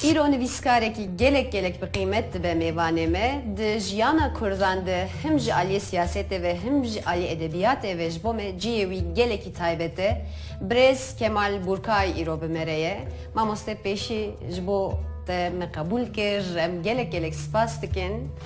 Îro nivîskarekî gelek gelek bi qîmet dibe mêvanê me. Di jiyana kurdan de him ji aliyê siyasetê ve him ji aliyê edebiyatê ve ji bo me ciyê wî gelekî taybet e. Birêz Kemal Burkay îro bi me re ye. Mamoste pêşî ji bo te me qebûl kir em gelek gelek spas dikin.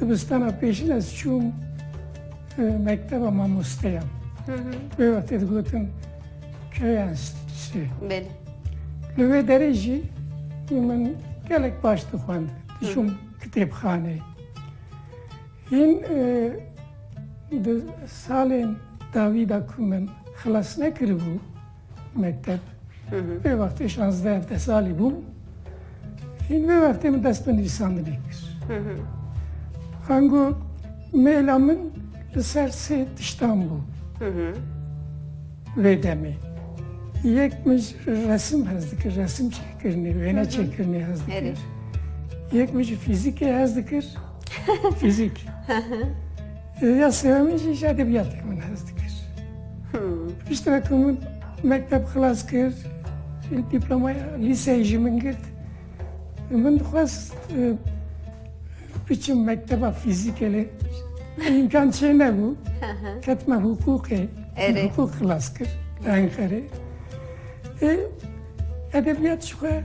Dibistana pêşin ez çûm mekteba mamosteyan. Wê wextê digotin köya enstitüsü. Belê. Li wê derê jî min gelek baş dixwend. Dişûm kitêbxaneyê. Hîn di salên dawî da ku min xilas nekiribû, mekteb. Vê wextê şazdeh hevdeh salî bûm. Hîn vê wextê min dest bi nivîsandinê kir. Ango mêla min li ser sê tiştan bû. Vê demê. Yek min resim hez dikir, resim çêkirinê, wêne çêkirinê hez dikir. Yek min jî fîzîkê hez dikir. Fîzîk. Ya sêwemîn jî ji edebiyatê min hez dikir. Pişt ve ku min mekteb xilas kir, dîplomaya lîseyê ji min girt. Min dixwest biçim mekteba fîzîkê lê îmkan çê nebû. Ketime hukûkê. Hukûk xilas kir. Enqerê. Edebiyat ji xwe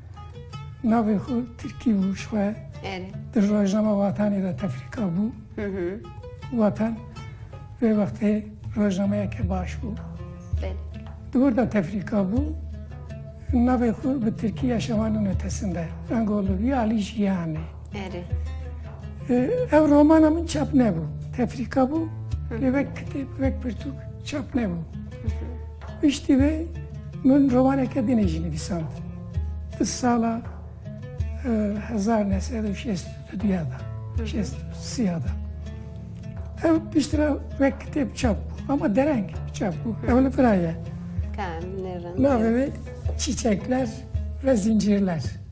Navê xwe Tirkî bû ji xwe. Di rojnama Watanê de tefrîka bû. Watan vê wextê rojnameyeke baş bû. Di wir de tefrîka bû. Navê xwe bi Tirkî ya şevan û netesin de. Rengolû bî Alî Jiyanê. Erê. Ev romana min çap nebû. Tefrîka bû lê wek kitêb wek pirtûk çap nebû. Piştî vê min romaneke din jî nivîsand. Di sala hezar ne sed û şêst û duya da şêst û siya da. Ev piştî ve wek kitêb çap bû ama dereng çap bû. Ew li vira ye. Navê wê çîçekler ve zincîrler.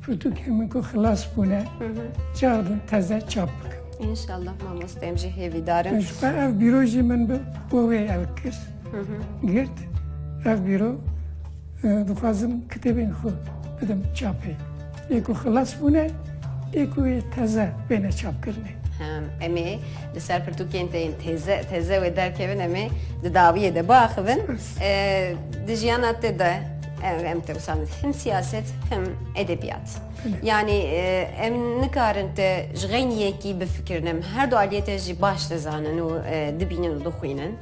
Pirtûkên min ku xilas bûne çax din teze çap bikim. İnşallah mamoste em jî hêvî darin. Ji xwe ev bîro jî min bi bo wê ew kir. Girt ev bîro dixwazim kitêbên xwe bidim çapê. Ê ku xilas bûne ê ku wê teze bêne çapkirinê. Em ê li ser pirtûkên te yên têze têze wê derkevin em ê di dawiyê de biaxivin. Di jiyana te de Em tewsan him siyaset him edebiyat. Yani e, em nikarin te ji xeyn yekî bifikirin em her du aliyê te jî baş dizanin û e, dibînin û dixwînin.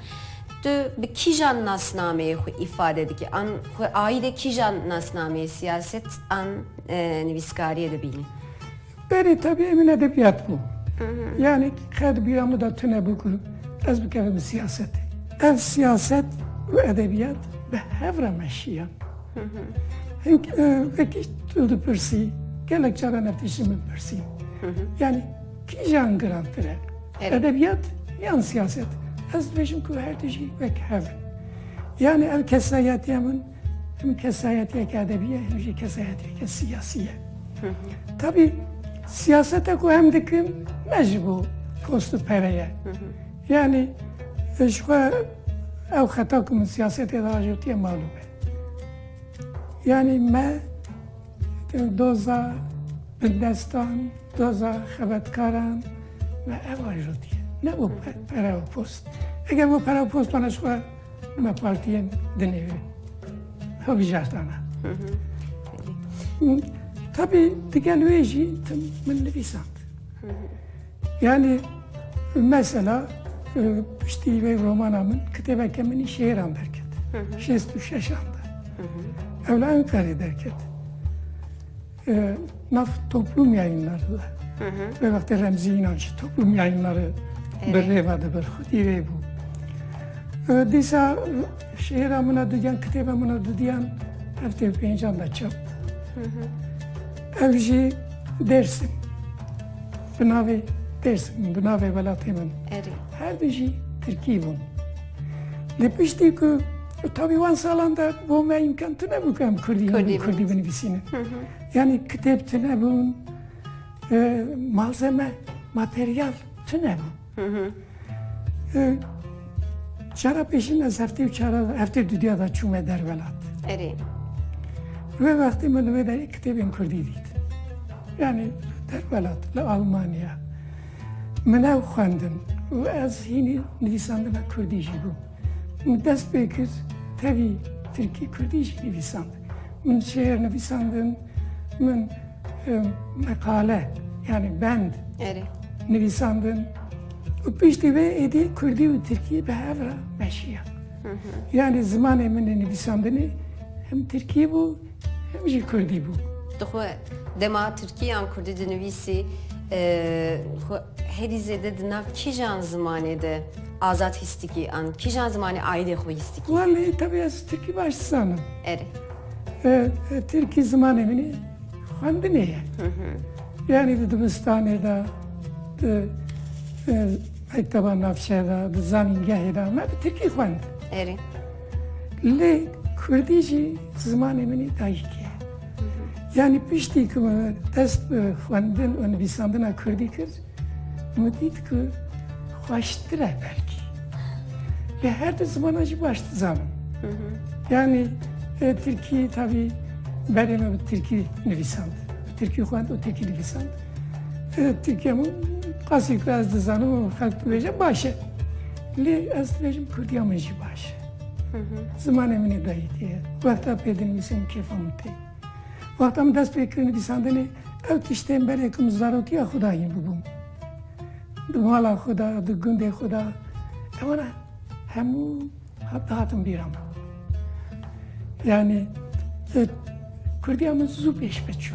Tu bi kîjan nasnameyê xwe îfade dikî? An xwe ayî de kîjan nasnameyê siyaset an e, nivîskariyê dibînî? Berê tabi emin edebiyat bû. Yani xed bîra min de tune bû ku ez bikevim bi siyasetê. Ev siyaset û edebiyat bi hev re meşiyan. Hink vekî tu dipirsî gelek caran ev tiştî min pirsî. Yani kîjan girantir e? Edebiyat yan siyaset? Ez dibêjim ku her tijî wek hev in. Yani ev kesayetiya min Tim kesayetiyeke edebiye hem jî kesayetiyeke siyasiye. Tabi siyasete ku hem dikim me ji bo post û pereye. Yani ji xwe ew xeta ku min siyasetê de ajotiye malûm e. Yani me doza bindestan, doza xebetkaran me ev ajotiye. Ne bo pere û post. Eger bo pere û post bana ji xwe Me partiyên dinêre hilbijartana. û tabi digel wê jî tim min nivîsand. Yani mesela piştî vê romana min kitêbeke minî şêran derket. Şêst û şeşan de. Ew li Enqerê derket. Nav toplum yayınları da. Ve vakti Remzi İnanç toplum yayınları bir reva da bir xudi rey bu. Disa şehir amına duyan, kitap amına duyan hafte pencan da çap. Evji Dersim. Binavi Dersim, binavi velatê min. Her dijî Tirkî bûn. Lê piştî ku Tabi wan salan de bo me imkan tine bû em Kurdî Kurdî binivîsînin. Yani kitêb tine bûn, e, malzeme, materyal tine bû. E, çara pêşîn ez heftê û çara heftê dudiya da çûme dervelat. Erê. Ve wextê min wê de kitêbên Kurdî dît. Yani dervelat li Almanya. Min ew xwendin û ez hînî nivîsandina Kurdî jî bûm. Min dest pê kir tevî tirkî kurdî jî nivîsand. Min şêr nivîsandin, min meqale yani bend nivîsandin. û piştî vê êdî kurdî û tirkî bi hev re meşiya. Yani zimanê min ê nivîsandinê him tirkî bû Him jî Kurdî bû. Tu xwe dema Tirkî yan Kurdî dinivîsî xwe herî zêde di nav kîjan zimanê de azad hîstikî an kîjan zimanê aîdê xwe hîstikî? Wallahî tevî ez Tirkî baş dizanim. Erê. Tirkî zimanê min e, xwendinê ye. Yanî di dibistanê de di mekteba navçeya de di zanîngehê de me bi Tirkî xwend. Erê. Lê Kurdî jî zimanê min ê dayîkê ye. Yanî piştî ku min dest bi xwendin û nivîsandina Kurdî kir, min dît ku xweştir e belkî. Lê her du zimanan jî baş dizanim. Yanî Tirkî tavî berê min bi Tirkî nivîsand. Tirkî xwend û Tirkî nivîsand. Tirkiyem qasî ku ez dizanim û xelk dibêje baş e. Lê ez dibêjim Kurdiya min jî baş e. Zimanê min ê dayîkê ye. Wexta pê dinivîsim kêfa min tê. Wexta min dest pê kir nivîsandinê ew tiştên berê ku min zarokiya xwe de hîn bibûm. Di mala xwe de, di gundê xwe de. Ewana hemû Hep dihatin bîra min. Yani Kurdiya min zû pêş biçû.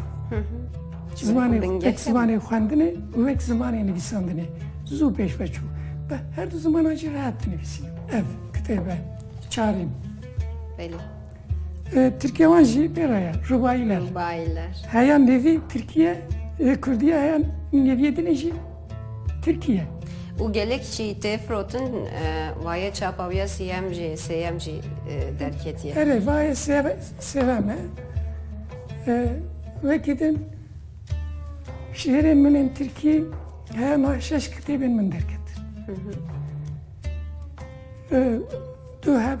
Zimanê tek zimanê xwendinê û wek zimanê nivîsandinê zû pêş biçû. Be her du zimanan jî rehet dinivîsî. Ev kitêbe çarîn. Belê. Tirkiye wan jî pê re ye. Rubayiler. Rubayiler. Heya nevî Tirkiye, Kurdiye heya nevîyê dinê jî Tirkiye. Û gelek jî tê firotin wayê çapa wî ya sîyem jî sêyem jî derketiye. Erê vayê sêvem e. Wekî din şîîrên min ên tirkî hema şeş kitêbên min derketin. Tu hep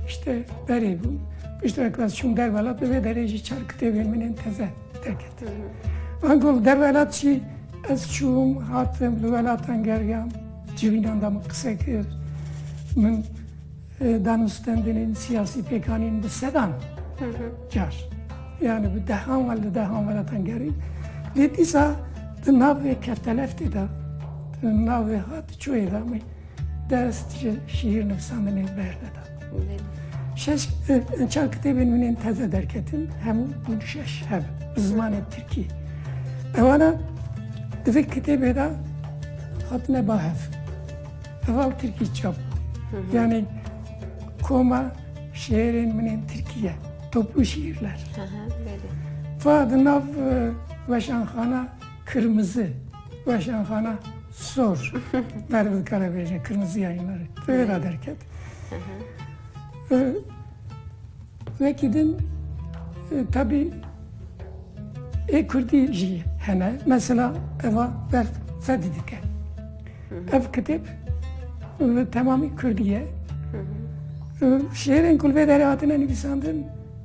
işte berê bû. Pişt ve klas çûm dervelat ve derê jî çar kitêbên min ên teze derket. Van gol dervelat jî ez çûm hatim li welatan geriyam civînan da min qise kir. Min e, danûstendinên siyasî pêkanîn bi sedan car. Yani bi dehan ve li dehan welatan gerî. Lê dîsa di navê keftelef tê da, di navê hat çoyê da min dest ji şîîrnivîsandinê berneda. Şeş çar kitêbên min ên teze derketin hemû bûn şeş hev bi zimanê tirkî. Ewana di vê kitêbê de hatine ba hev. Heval tirkî çap. Yani koma şiirên min ên tirkî ye. Toplu şiirler. Fa di nav weşanxana Kirmizi, weşanxana sor. Merê min dikare bêje kirmizi ya îmerê. Vê ra derket. Wekî din tabî ê Kurdî jî hene. Mesela eva ber fedî dike. Ev kitêb temamî Kurdî ye. Şêrên ku li vê derê hatine nivîsandin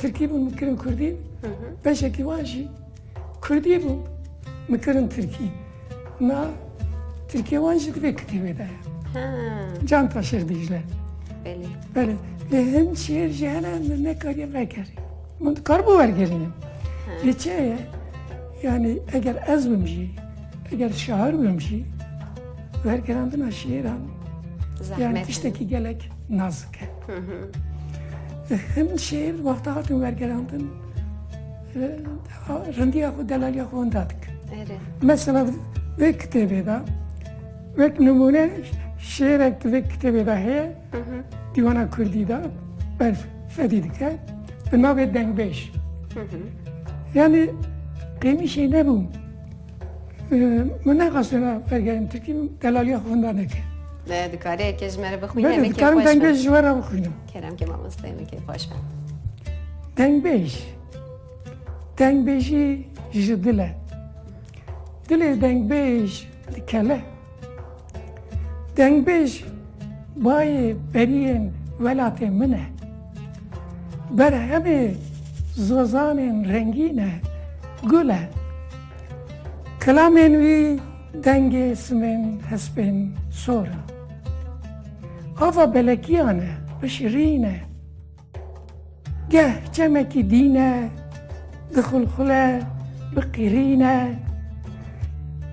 Tirkî bûn min kirin Kurdî. Beşekî wan jî Kurdî bûn min kirin Tirkî. Na Tirkiye wan jî divê kitêbê de ye. Canta Şêx Dîcle. Belê. Belê. Lê hin şêr jî hene min nekariye vegerî. Min dikaribû wergerînim. Lê çi ye? Yani eger ez bim jî, eger şair bim jî, wergerandina şêran yani tiştekî gelek nazik e. Him şêr wexta hatin wergerandin rindiya xwe delaliya xwe hunda dikin. Mesela vê kitêbê de wek nimûne şêrek di vê kitêbê de heye dîwana Kurdî de ber fedî dike bi navê dengbêj. Yani qêmişê nebû Min nexwastiye me bergerim Tirkî delaliya xwe hunda neke. Me dikarê ekê ji me re bixwîne em dikarim dengbêj ji we re bixwînim. Kerem ke mamosteyê min kê xweş be. Dengbêj. Dengbêjî ji dil e. Dilê dengbêj dikele. Dengbêj bayê beriyên welatê min e. Berhemê zozanên rengîn e, gul e. Kelamên wî dengê simên hespên sor in. Ava belekiyan e, bi şirîn e. Geh çemekî dîne, dixulxule, biqîrîne,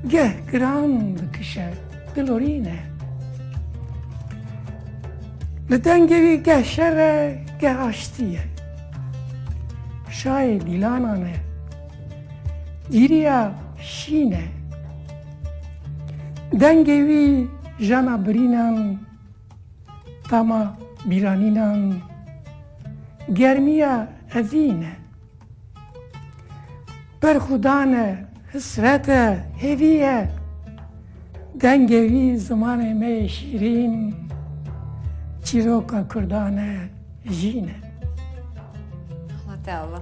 geh giran dikişe, dilorîne. Li dengê wî geh şer e, geh aştî ye. Şayê dîlanan e. Gîriya şîn e. Dengê wî jana birînan Tama bîranînan germîya evîn e. Berxwedan e, hisret e, hêvî ye. Dengê wî zimanê me yê şîrîn çîroka kurdan e, jîn e. Allah te Allah.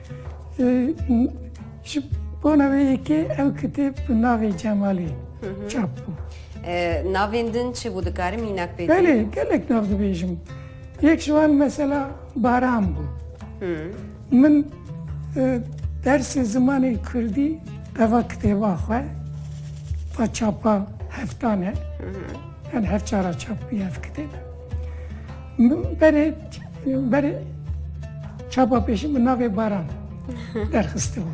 Ji bona vê yekê ew kitêb bi navê Cemalê çap bû. Navên din çi bû dikarim înak pê? Belê gelek nav dibêjim. Yek ji wan mesela baran bû. Min dersê zimanê Kurdî teva kitêba xwe va çapa heftane. Yan hevçara çap bûye ev kitêb. Berê berê çapa pêşî min navê baran derxiste bû.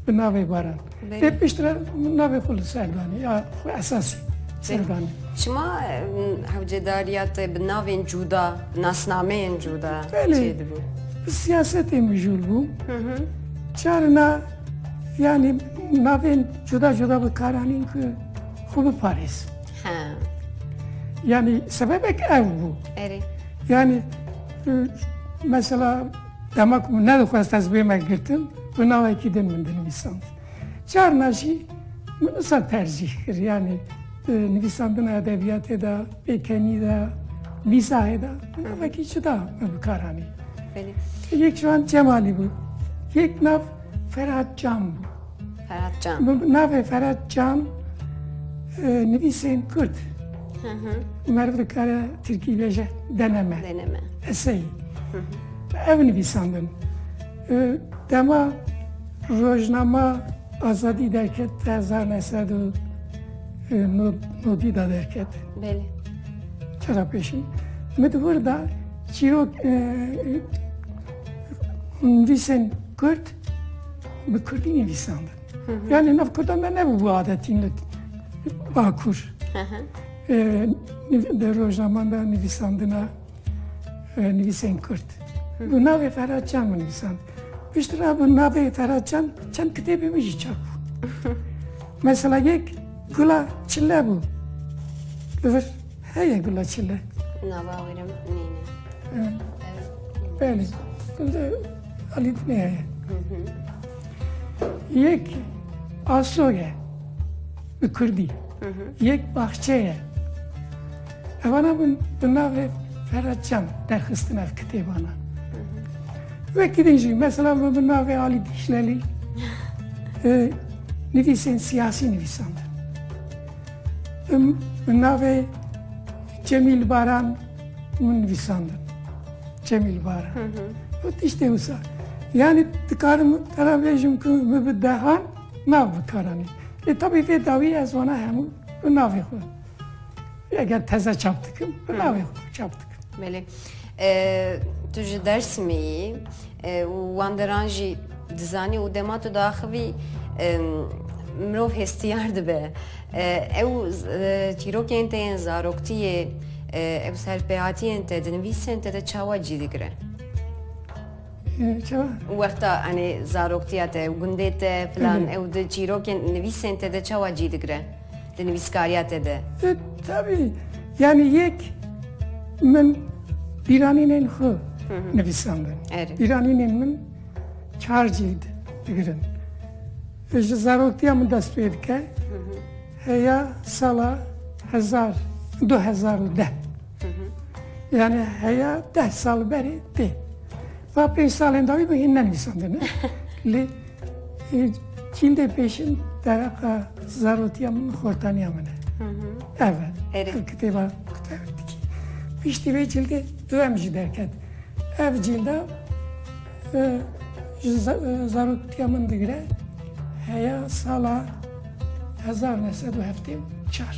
Bi navê baran. Lê piştre min navê xwe li serdanî ya xwe esasî serdanî. Çima hewcedariya te bi navên cûda, nasnameyên cûda çê dibû? Bi siyasetê mijûl bû. Carina yani navên cûda cûda bi karanîn ku xwe biparêz. Ha. Yani sebebek ev bû. Erê. Yani e, mesela dema ku ne dixwest ez bê me girtin bi navekî din min dinivîsand. Carna jî min wisa tercîh kir yani e, nivîsandina edebiyatê de, pêkenî de, mîzahê de navekî cida me bi kar anî. Belê. Yek ji wan Cemalî bû. Yek nav Ferhat Can bû. Ferhat Can. Bi navê Ferhat Can nivîsên Kurd. Meriv dikare Tirkî bêje deneme. Deneme. Eseyî. Ev nivîsandin. Dema rojnama azadî derket te hezar nesed û nodî da derket. Belê. Çera pêşî. Min di wir da çîrok nivîsên Kurd Bi Kurdî nivîsandin. Yani nav Kurda me nebû bu adetîn li Bakur. Di rojaman de nivîsandina nivîsên Kurd. Bu navê Ferhat Can min nivîsand. Piştre bu navê Ferhat Can çend kitêbê min jî çap bû. Mesela yek Gula Çille bû. Li vir Heye gula çilek. Na bawirim neyne. Belê. Alî dinê heye. Yek aso ye. Bi Kurdî. Yek baxçe ye. Evana bi navê Ferhat Çam derxistin ev kitêbana. Wekî din jî mesela bi navê Alî Dîşlelî nivîsên siyasî nivîsandin. Bi navê Cemîl Baran min nivîsandin. Cemîl Baran. Got tiştê wisa. Yani dikarim tera bêjim ku min bi dehan nav bikaranî. Lê tabî vê dawî ez wana hemû bi navê xwe. Eger teze çap dikim, bi navê xwe çap dikim. Belê. Tu ji Dersimê yî û wan deran jî dizanî û dema tu diaxivî mirov hestiyar dibe. Ew çîrokên te yên zaroktiyê ew serpêhatiyên te di nivîsên te de çawa cî digire? Wexta enê zaroktiya te û gundê te filan ew di çîrokên nivîsên te de çawa cî digire? Di nivîskariya te de. Di tevî yanî yek min bîranînên xwe nivîsandin. Bîranînên min çar cîld digirin. Ji zaroktiya min dest pê dike heya sala hezar du hezar û deh. Yani heya deh sal berê tê. Ba pênc salên dawî min hîn nenivîsandin lê cîldê pêşin dereqa zarotiya min xortaniya min e. Ev e kitêba kuterdikî. Piştî vê cîldê du em jî derket. Ev cîlda ji zarotiya min digire heya sala hezar nesedu heftê û çar.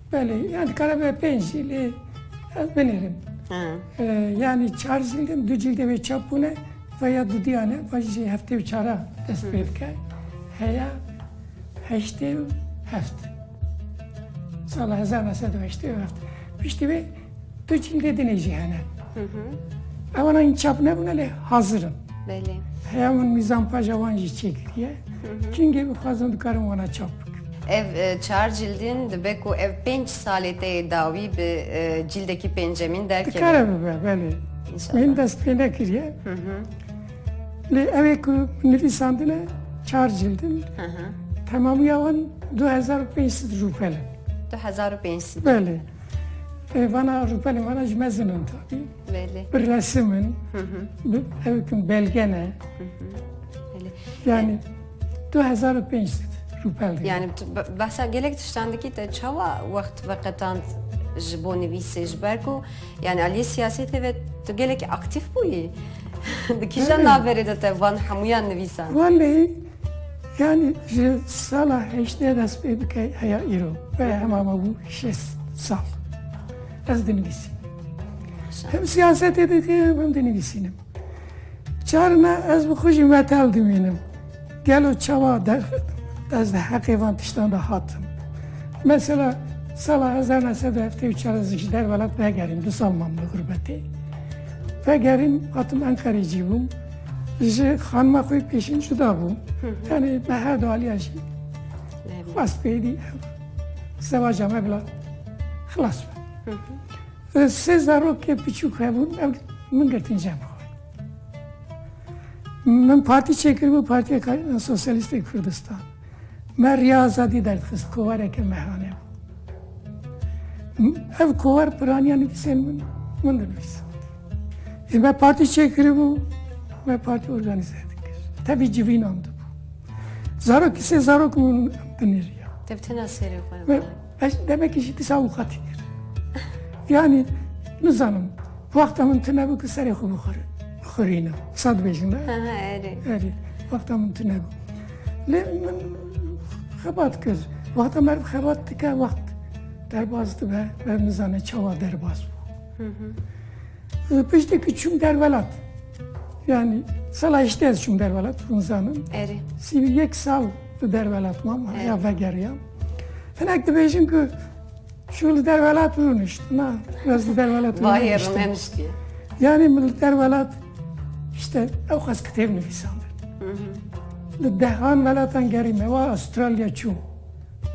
Belê, yan dikare be pênc jî lê ez binêrim. Yanî çar jîldim, du cîldê wê çap bûne ve ya dudiyane ve jî heftê û çara dest pê dike. Heya heştê û heft. Sala hezar nesedû heştê û heft. Piştî wê Tu cîngê dinê jî hene. Ewan in çap nebûne lê hazir in. Belê. Heya min mîzan paja wan jî çêkiriye. Kîngê bixwazin dikarin wana çap bikin. Ev e, çar cildin dibe ku ev pênc salê te yê dawî bi e, cildekî pêncemîn derkeve. Dikare bibe belê. İnşallah. Min dest pê nekiriye. Lê ev ê ku min nivîsandine çar cildin. Hı hı. Temamîya wan 2500 rûpel in. 2500. Belê. Vana rûpelê me re ji mezin in tabî. Bi resim in, bi evikin belge ne. Yani 2005 rûpel. Yani behsa gelek tiştan dikî te çawa wext veqetand ji bo nivîsê ji ber ku yani aliyê siyasetê ve tu gelekî aktîf bûyî. Di kîjan naverê de te van hemûyan nivîsan? Wellî Yanî ji sala heştê dest pê bike heya îro ve hema me bû şêst sal. Ez dinivîsî. Hem siyasetê dikim hem dinivîsînim. Çarina ez bi xwe jî metal dimînim. Gelo çawa ez di heqê van tiştan de hatim. Mesela sala hezar nesed heftê û çar ez ji der welat vegerîm, du sal mam li gurbetê. Vegerîm hatim Enqerê cî bûm. Ji xanima xwe pêşîn cuda bû. Tenê me her du aliya jî xwest pêdî ev zewaca me bila xilas be. Sê zarokê piçûk hebûn ev min girtin cem xwe. Min partî çêkiribû Partiya Karîna Sosyalîstê Kurdistan. Me Riya Azadî derdixist kowareke mehane bû. Ev kowar piraniya nivîsên min min dinivîsa. Ê me partî çêkiribû, me partî organîze dikir. Tevî civînan dibû. Zarokî sê zarok min binêriya. Te bi tena serê xwe Ez demekî jî disa û qatî kir. Yanî nizanim wexta min tune bû ki serê xwe bixwiri bixwirînim. Wisa dibêjim e? Erê. Erê. Wexta min tune bû. Lê min xebat kir. Wexta meriv xebat dike wext derbas dibe ve nizane çawa derbas bû. Piştekî çûm derwelat. Yani sala hiştê ez çûm derwelat, hûn zanin. Erê. Sî yek sal Di derwelat mam ya vegeriya. Hinek dibêjin ku şu li derwelat rûnişt na ez li derwelat rûnişt. Yani min li derwelat işte ew xas kitêb nivîsandin. Li dehan welatan gerî me wa Astralya çû.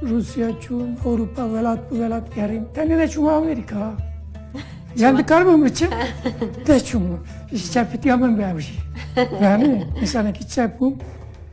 Rusya çû, Ewropa welat bi welat gerî. Tenê ne çûma Amerîka. Yani dikar mı mıçı? De çumu. İşte piti amın be avcı. Yani insanı ki çepum.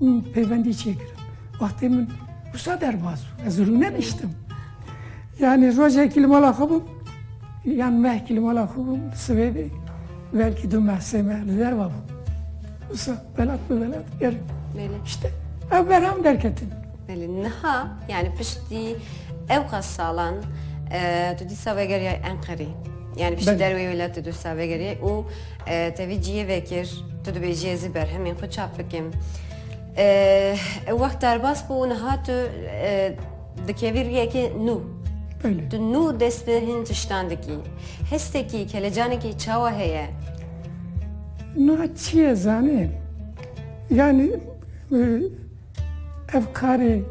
û pêvendî çêkirin. Wextê min wisa derbas bû ez rûne niştim. Yani rojekî li mala xwe bûm yan mehkî li mala xwe bûm sivêdê belkî du meh sê meh li derva bûm. Wisa belat bi belat gerim. İşte ev berham derketin. Belê niha yani piştî ew qas salan tu dîsa vegeriya Enqerî. Yani piştî derwê wêlatê tu dîsa vegeriya û Tevî ciyê vekir, tu dibêjî ez ê berhemên xwe çap bikim. Ew wext derbas bû û niha tu dikevî riyekê nû. Tu nû dest bi hin tiştan dikî. Hestekî, kelecanekî çawa heye? Niha çiyê zanê? Yanî ev karê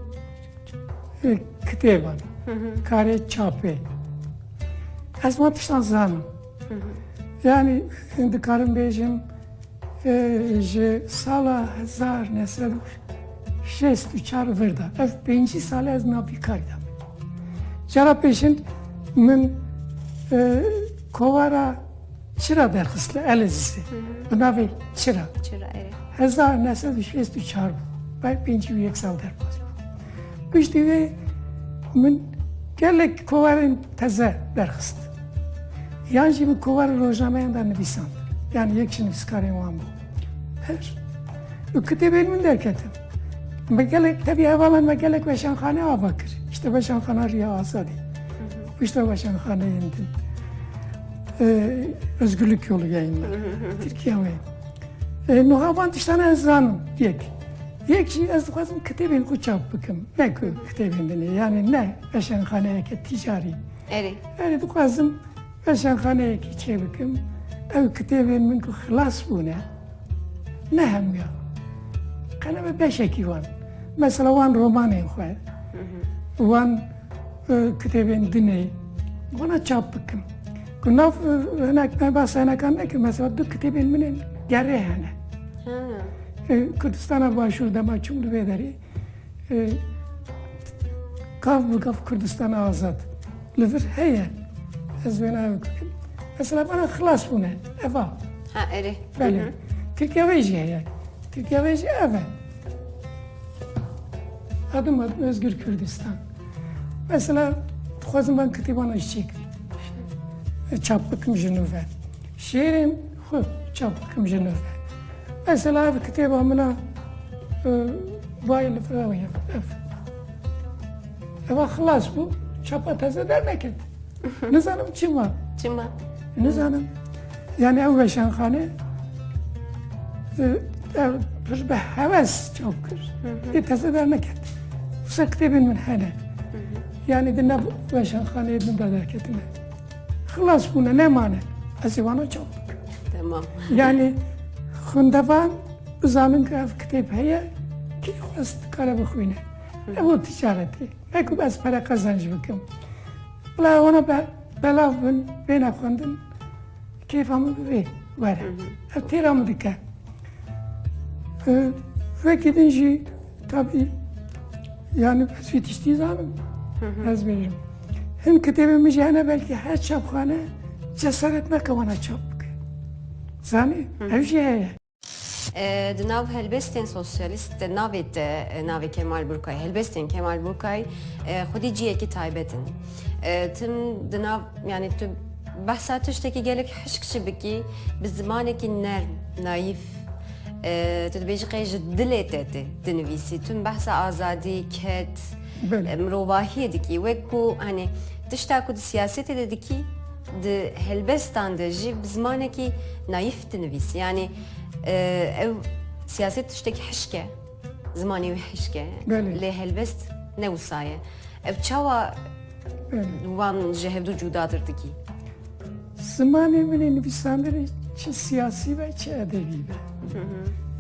kitêban, karê çapê. Ez wan tiştan zanim. Yani dikarim bêjim ji sala hezar ne sed û şêst û çar vir de ev pêncî sal ez navîkarî de min. Cara pêşin min kovara çira derxist li Elezîzê bi navê çira. Çira erê. Hezar ne sed û şêst û çar bû. Bay pêncî û yek sal derbas bû. Piştî vê min gelek kovarên teze derxist. Yan jî bi kovara rojnameyan de nivîsand, yan yek ji nivîskarên wan bû. Her du kitêbên min derketin. Me gelek tevî hevalan me gelek weşanxane ava kir. Pişta Weşanxana Riya Azadî, pişta weşanxaneyên din. Özgürlük Yolu yayınla. Türkiye ve. E, Nuhavan tiştana ez zanim yek. Yek jî ez dixwazim kitêbên xwe çap bikim. Ne ku kitêbên din e. Yani ne veşanxaneyeke ticarî. Erê. Erê dixwazim weşanxaneyekî çêbikim. Ew kitêbên min ku xilas bûne ne hemûyan. Qeleme beşekî wan. Mesela wan romanên xwe. Wan e, kitêbên dinê. Wana çap bikim. Ku nav e, hinek me bas hinekan nekim. Mesela du kitêbên min ên gerê hene. Kurdistana Başûr dema çûm divê derê. Gav bi gav Kurdistana azad li vir heye ez wê navê Kurdim. Mesela bana xilas bûne eva. Ha erê. Belê. Tirkiye wê jî heye. Tirkiye wê jî ev e. Adım adım Özgür Kürdistan. Mesela dixwazim ben kitêbana jî çêkim. Çap bikim ji nû ve. Şêrên Xwe çap bikim ji nû ve. Mesela ev kitêba min a Bayê li Firewî ye. Ev. Eva xilas bû. Çapa teze derneket. Nizanim çi ma. Çi ma. Nizanim. Yani ew veşanxane pir bi heves çap kir. Ê teze derneket. Wisa kitêbên min hene. Yani di nav veşanxaneyê min de derketine. Xilas bûne nemane. Ez ê wana çap bikim. Temam. Yani xwendevan bizanin ki ev kitêb heye kî xwest dikare bixwîne. Ne bo ticaretê. Ne ku ez pere qezanc bikim. Bila wana be belav bin bêne xwendin kêfa min bi vê were. Ev têra min dike. Wekî din jî Kitabî yani ez vê tiştî zanim ez bêjim. Hin kitêbê min jî hene belkî her çapxane cesaret nake wana çap bike. Zanî ev jî heye. Di nav helbestên sosyalîst de navê te navê Kemal Burkay helbestên Kemal Burkay xwedî ciyekî taybet in. Tim di nav yani tu behsa tiştekî gelek hişk jî bikî bi zimanekî nerm, nayîf Tu dibêjî qey ji dilê te tê dinivîsî tu behsa azadî ket mirovahiyê dikî wek ku henê tişta ku di siyasetê de dikî di helbestan de jî bi zimanekî nayîf dinivîsî yanî ew siyaset tiştekî hişke zimanê wî hişke lê helbest ne wisa ye ev çawa wan ji hevdû cûdatir dikî Zimanê min ê nivîsandirê çi siyasî be çi edebî be.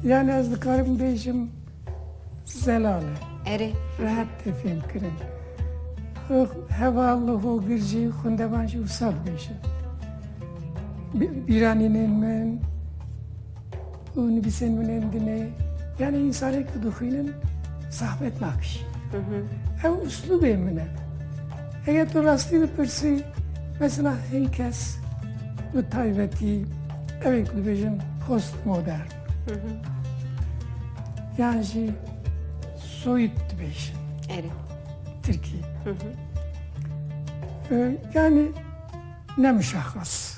Yani ez dikarim bêjim zelal e. Erê. Rehet tê fêm kirin. Heval, hogir jî xwendevan jî wisa dibêjin. Bîranînên min, û nivîsên min ên dinê yanî însanên ku dixwînin zehmet nakişî. Ew uslûbê min e. Eger tu rastî bipirsî mesela hin kes bi taybetî ew ê ku dibêjin post modern yan jî soyut dibêjin Tirkî. Yani ne muşaxas.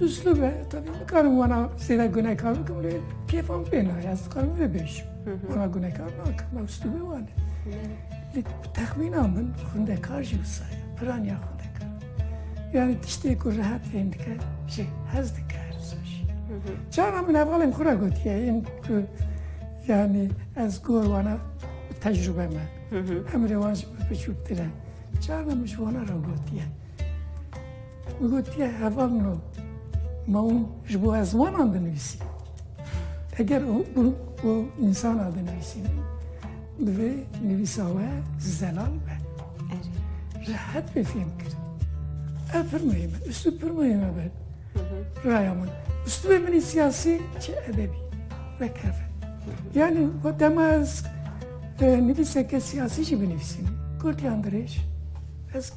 Uslûb e tevî nikarim wana zêde gunekar bikim lê kêfa min pê nayê ez dikarim vê bêjim. Wana gunekar nakim me uslûbê wan e. Lê bi texmîna min xwendekar jî wisa ye piraniya xwendekar. Yani tiştê ku rehet fêm dike jî hez dike her wisa jî. Cara min hevalên xwe re gotiye yên ku yani ez gor wana bi tecrûbe me. Emrê wan jî biçûktir e. Cara min ji wana re gotiye. Gotiye heval no ma û ji bo ezmanan dinivîsî. Eger û û û însana dinivîsî divê nivîsa we zelal be. Rehet bê fêm kir. Ev pirmeyê me, üstü pirmeyê me be. Raya min. Üstü bê minî siyasî çi edebî ve keve. Yani o dema ez e, nivîseke siyasî jî binivîsîm. Gotiyan dirêj. Ez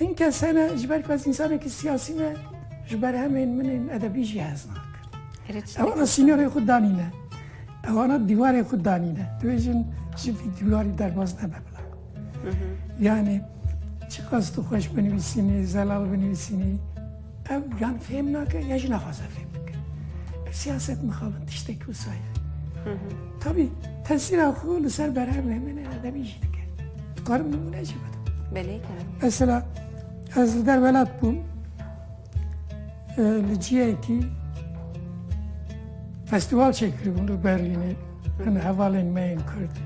Hin kes hene ji ber ku ez însanekî siyasî me ji berhemên min ên edebî jî hez nakin. Ewana sînorê xwe danîne. Ewana dîwarê xwe danîne. Divê jin ji vî dîwarî derbas nebe bila. Yanî çiqas tu xweş binivîsînî, zelal binivîsînî, Ew yan fêm nake ya jî naxwaze fêm bike. Ev siyaset mixabin tiştekî wisa ye. Tabî tesîra xwe li ser berhev hemêne edebî jî dike. Dikarim nimûne jî bidim. Belê kirin. Mesela ez li derwelat bûm li ciyekî festival çêkiribûn li Berlînê hin hevalên me yên Kurd.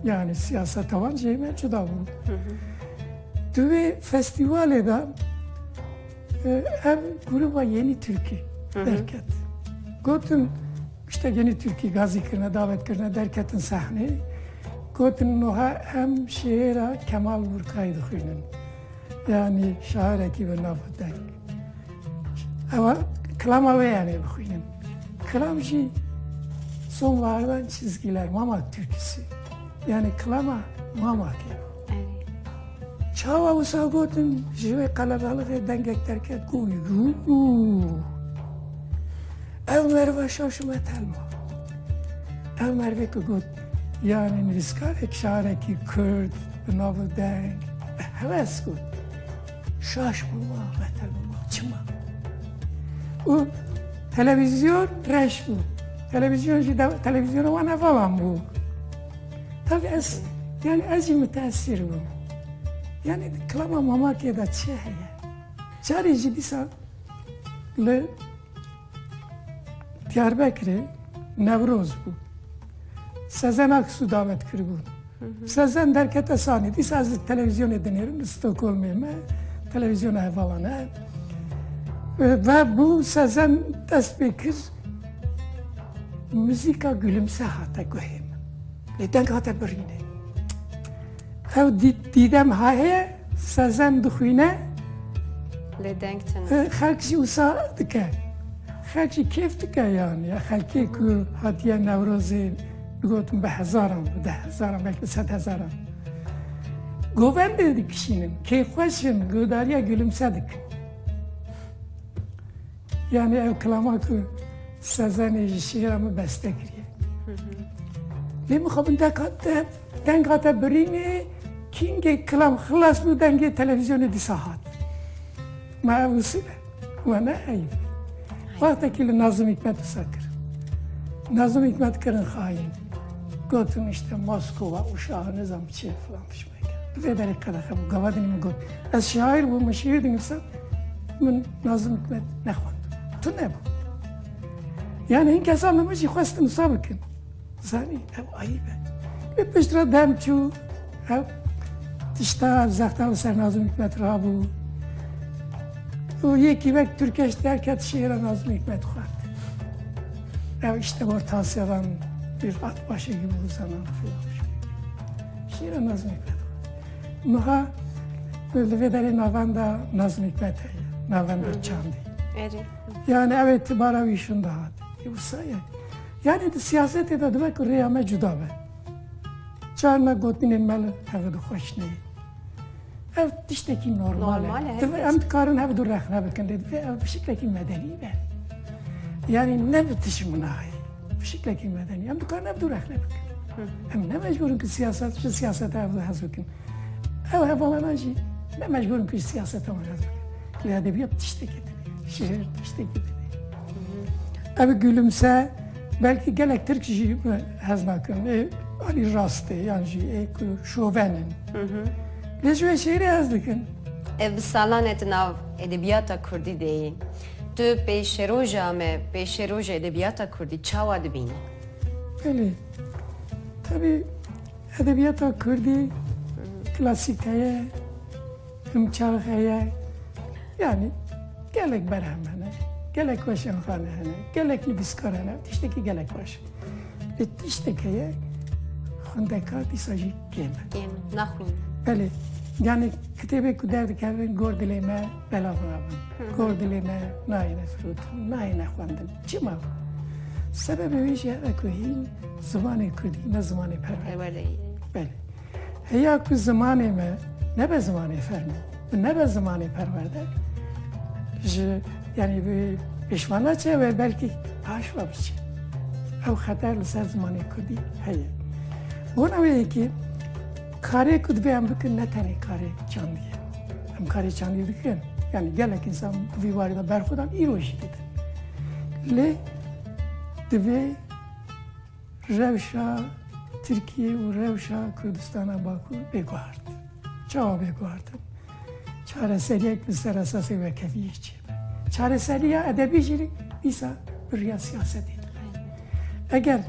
Yani siyaseta wan jê me cuda bû. Di vê festîvalê de ev grûba Yenî Tirkî derket. Gotin işte Yenî Tirkî gazî kirine, davet kirine, derketin sehneyê. Gotin nuha em şêra Kemal Burkayî dixwînin. Yani şairekî bi nava deng. Ewa kilama wê em ê bixwînin. Kilam jî son vardan çizgîler mama Tirkîsî. Yani kilama mama kê. Çawa wisa gotin ji wê qelebalixê dengek derket ku ev merva şaşime telma. Ev mervê ku got yani nivîskarek şarekî Kurd bi nava deng bi heves got. Şaş bûma beter bûma çima. û televîzyon reş bû. Televîzyon jî televizyona wan evalan bû. Tav ez yani ez jî müteessîr bûm. Yani klama Mamakê de çi heye? Carê jî dîsa li Diyarbekirê Newroz bû. Sezen Aksu davet kiribûn. Sezen derkete sanî. Dîsa ez li televizyonê dinêrim li Stockholmê me televizyona hevalan e. Ve bû Sezen dest pê kir Muzîka gulumse hate guhê min. Lê deng hate birîne. Ew dîdem haye sezem dixwîne lê deng çi xelk jî wisa dike. Xelk jî kêf dike yan ya xelkê ku hatiye newrozê gotin bi hezaran bi de hezaran belki bi sed hezaran. Govendê dikişînin kêfxweşin godariya gulumse dikin. Yani ev kilama ku Sezenê ji şîra min beste kiriye. Lê min xwe deka te denga te birînê kîngê kilam xilas bû dengê televîzyonê dîsa hat. Ma ev usul e. Ma ne eyb. Wextekî li Nazim Hikmet qisa kir. Nazim Hikmet kirin xayîn. Gotin işte Moskova, Uşağı, nizam çi filan fişman. Vê berê qedexe bû. Gavadinî min got, ez şaîr bûm, min şîîr dinivîsa, min Nazim Hikmet nexwend. Tu nebû. Yani hin kesa min min jî xwestin wisa bikin. Zanî ew ayîb e. Lê pişt re dem çû, ew tişta ev zexta li ser Nazim Hikmet rabû. û yekî wek Türkeş derket şiira Nazim Hikmet xwend. Ew işte ortansyadan bir at başê gibi uzanan filan. Şîra Nazmî Pete. Niha li vê derê navenda Nazmî Pete ye, navenda çandî. Yani ev îtibara wî şûn dihat. Wisa ye. Yani di siyasetê de dibe ku rêya me cuda be. Çar me gotinên me li heve dixweşneyê. Ev tiştekî normal e. Divê em dikarin hev du rexne bikin lê divê ev bi şiklekî medenî be. Yanî ne bi tişt minayê. Bi şiklekî medenî. Em dikarin hev du rexne bikin. Em ne mecbûrin ku siyaset ji siyaseta ev hez bikin. Ew hevalan jî ne mecbûrin ku ji siyaseta wan hez bikin. Lê edebiyat tiştekî divê. Şiir tiştekî divê. Ev gülümse belkî gelek Tirk jî Hez nakim ê alî rast ê yan jî ê ku şoven in. Lê ji wê şêrê hez dikim. Ev bi salan e tu nav edebiyata kurdî de yî. Tu pêşeroja me, pêşeroja edebiyata kurdî çawa dibînî? Belê. Tevî edebiyata kurdî klasîk heye. Em çax heye yanî gelek berhem hene, gelek weşanxane hene, gelek nivîskar hene, ev tiştekî gelek baş e. Lê tiştek heye xwendekar dîsa jî kêm e. Kêm e, naxwîn. Belê yanî kitêbê ku derdikevin gor dilê me belav nabin. Gor dilê me nayêne firotin, nayêne xwendin. Çima? Sebebê wî jî heve ku hîn zimanê Kurdî ne zimanê perwerdeyiye. Belê. Heya ku zimanê me nebe zimanê fermo û nebe zimanê perwerde ji yanî bi pêşvana çi we belkî paş ve biçî. Ew xeter li ser zimanê Kurdî heye. Bona wê yekî karê ku dibe em bikin ne tenê karê çandî ye. Em karê çandî dikin. Yani gelek insan di vî warê de berxwedan îro jî didin. Lê divê Rewşa Tirkiyê û rewşa Kurdistana Bakur bêguhert in. Çawa bêguhert in? Çareseriyek li ser esasê wekeviyê çêbe. Çareseriya edebî jî dîsa bi riya siyasetê dibe. Eger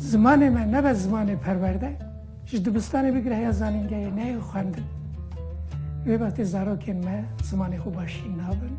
zimanê me nebe zimanê perwerde, ji dibistanê bigire heya zanîngehê neyê xwendin. Wê wextê zarokên me zimanê xwe baş jî nabin.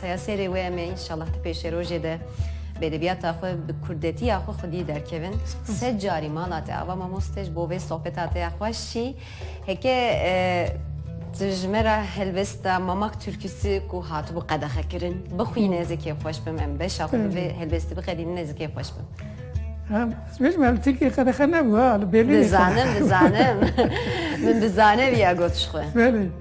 Saya sêrê wê em ê înşallah ti pêşerojê de bi edebiyata xwe, bi kurdetiya xwe xwedî derkevin. Sed carî mala te ava mamoste ji bo vê sohbeta te ya xweş jî. Heke tu ji me re helbesta Mamak Türküsü ku hatibû qedexekirin bixwîne zikê xweş bim em beşa xwe bi vê helbestî biqedînine zikê xweş bim. Ez bêjim em Tirkiyê qedexe nebû ha li Berlînê. Dizanim dizanim min bi zanê viya got ji xwe. Belê.